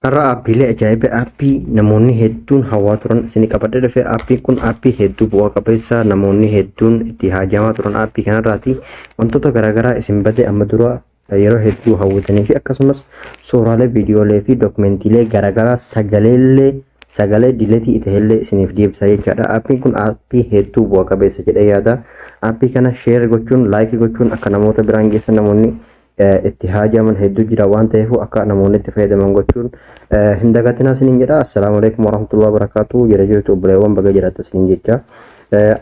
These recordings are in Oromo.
Har'a aappiilee ajaa'iba aappii namoonni hedduun hawaa turan isinii qabadhee dhufe aappiin kun aappii hedduu bu'aa qabeessa namoonni hedduun itti haajaamaa turan aappii kanarraati wantoota garaagaraa isin bade amma dura yeroo hedduu hawwatanii fi akkasumas suuraalee viidiyoolee fi dookumentiilee garaagaraa sagaleellee sagalee diletii ta'ellee isiniif deebisa jechaadha. Aappiin kun aappii hedduu bu'a qabeessa jedhee yaada. Aappii kana sheer gochuun laayikii gochuun akka namoota biraan geessan namoonni itti haajaman hedduu jira waan ta'eef akka namoonni itti fayyadaman gochuun hin dagatinaa isiniin jedha. Assalaamu alaikum warahmatullahi wabarakatuh. Jira jirtu obboleewwan baga jiraattan isiniin jecha.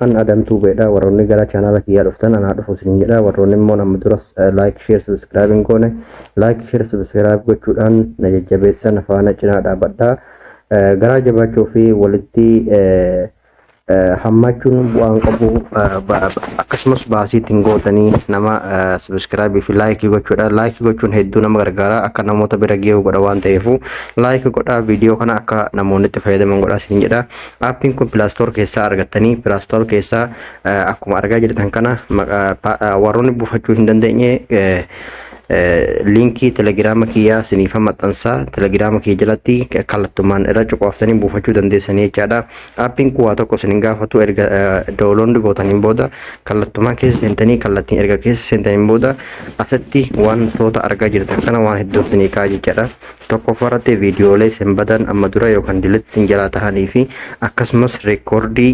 An Adam Tube dha warroonni gara channel kiyyaa dhuftan anaa dhufu isiniin jedha warroonni immoo amma duras like share subscribe hin goone like share subscribe gochuudhaan na jajjabeessa na faana cinaa dhaabadha garaa jabaachuu fi walitti hammaachuun bu'aan qabu akkasumas baasii ittiin gootanii nama subscribe fi like gochuudha like gochuun hedduu nama gargaara akka namoota bira ga'u godha waan ta'eef like godhaa viidiyoo kana akka namoonni itti fayyadaman godhaa isiniin jedha Aappiin kun Play Store keessaa argattanii Play Store keessaa eh, akkuma argaa jirtan kana maqa- pa- eh, warroonni buufachuu hin dandeenye eh, eh, liinkii telegiraama kiyyaa siniifa maxxansaa telegiraama kiyya jalatti kallattumaan irra cuqaaftanii buufachuu dandeessanii jechaadha. Aappiin kun waa tokko isin hin gaafatu erga download gootaniin booda kallattumaan keessa seentanii kallattiin erga keessa seentaniin booda asitti wantoota argaa jirtan kana waan hedduu isinii ka'a jechaadha. tokkoffaa irratti viidiyoolee isin badan amma dura yookaan dilatti isin jalaa tahanii fi akkasumas reekoordii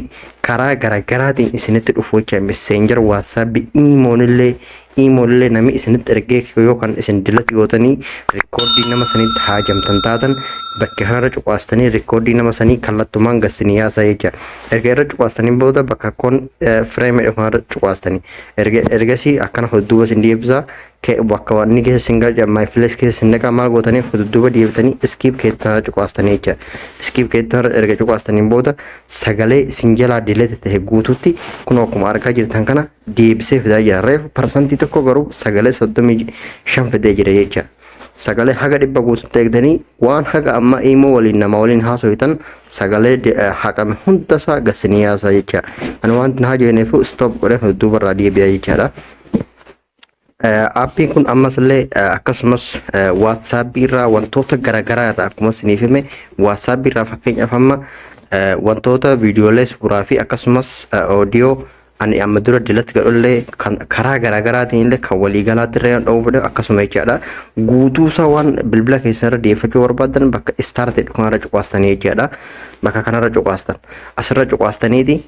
karaa garaagaraatiin isinitti dhufu jecha messenger whatsapp iimoonillee iimoonillee namni isinitti ergee yookaan isin dilatti gootanii reekoordii nama sanitti haajamtan taatan bakka kanarra cuqaastanii reekoordii nama sanii kallattumaan gassinii yaasaa jecha erga irra cuqaastanii booda bakka kun fireemidha kanarra cuqaastanii erga ergasii akkana hodduuba isin deebisaa Ke bakka wanni keessa isin galcha my place keessa isin naqa maal gootanii akka dudduuba deebitanii iskiip keettaa cuqaastanii jecha iskiip keettaa irra erga cuqaastaniin booda sagalee isin jalaa dileete ta'e guutuutti kun akkuma argaa jirtan kana deebisee fidaa jira reefu parsantii tokko garuu sagalee soddomii shan fidee jira jecha sagalee haga dhibba guutuutti eegdanii waan haga amma imoo waliin nama waliin haasofitan sagalee de- eh, haqame hunda isaa gasinii yaasaa jecha ani wanti na hajoineefu stop godhee dudduuba irraa deebi'aa jechaadha. Aappiin kun ammas illee akkasumas waatsaapii irraa wantoota garaagaraa irraa akkuma isiniif hime waatsaapii irraa fakkeenyaaf amma wantoota viidiyoolee suuraa fi akkasumas oodiyoo ani amma dura dilatti godhullee karaa garaagaraatiin illee kan waliigalaatti irra yoo dha'uu fedhe akkasuma jechaadha. Guutuu isaa waan bilbila keessan irra deeffachuu barbaadan bakka istaartii kanarra cuqaastanii jechaadha. Bakka kanarra cuqaastan asirra cuqaastaniiti.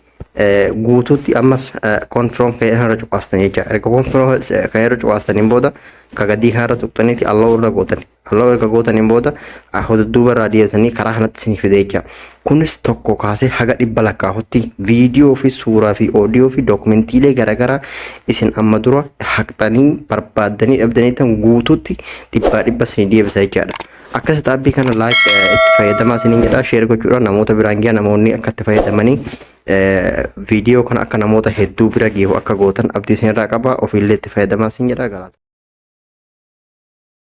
guutuutti ammas konfiroom ka'ee irra cuqaastan jecha erga konfiroom ka'ee irra cuqaastaniin booda ka gadii kana irra tuqxaniiti alloo irra gootan alloo erga gootaniin booda hududduuba irraa deebitanii karaa kanatti isin fide jecha kunis tokko kaasee haga dhibba lakkaa'utti viidiyoo fi suuraa fi oodiyoo fi dookumentiilee garaagaraa isin amma dura haqxanii barbaaddanii dhabdanii tan guutuutti dhibbaa dhibba isin deebisa jechaadha. Akkas xaabbii kana like itti fayyadamaa isiniin jedha share gochuudhaan namoota biraan gahaa namoonni akka itti fayyadamanii viidiyoo kana akka namoota hedduu bira gahu akka gootan abdii isinirraa qaba ofiillee itti fayyadamaa isin jedha galaata.